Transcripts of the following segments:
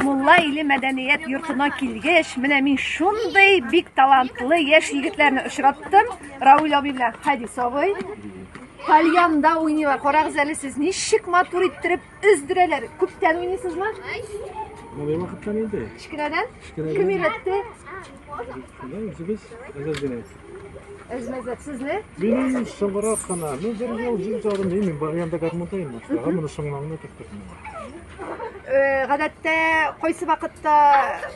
Мулла иле мәдәният йортына килгәч, менә мин шундый бик талантлы яшь егетләрне очраттым. Рауль абый белән Хадис абый. Кальянда уйныйлар. Карагыз әле сез ничек матур иттереп Өздерәләр. Күптән уйныйсызмы? Моңлы вакыттан инде. Кечкенәдән? Кечкенәдән. Кем өйрәтте? Шулай үзебез әзер генә. Әзмәзәт сезне? Минем соңрак кына, ну бер ел, ел жарым, мин барганда гармунда инде. Тагы моны соңлаңына киттек. Гадәттә кайсы вакытта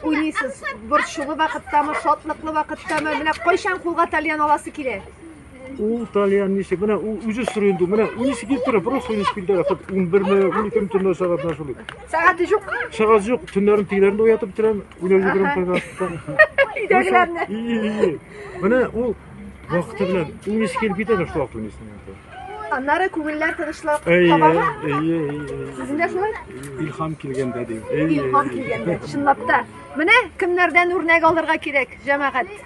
уйныйсыз? Борчулы вакыттамы, шатлыклы вакыттамы? Менә кайчан кулга тальян аласы килә? Ул тальян ничек? Менә ул үзе сорый инде. Менә үнисе килеп тора, бераз сорый килеп тора. Хат 11 ме, 12 ме төнлә сәгатенә шулай. Сәгать юк. Сәгат юк, төннәрен тигеләрен уятып бетерәм. Үләр җибәрәм кайда. Идәгеләрне. И, и, и. Менә ул вакыты белән үнисе килеп китә шул вакыт үнисенә. Аннары күңелләр тынычлап табама. Сезгә шулай? Илһам килгәндә ди. Илһам килгәндә. Чынлап та. Менә кемнәрдән үрнәк алырга кирәк, җәмәгать.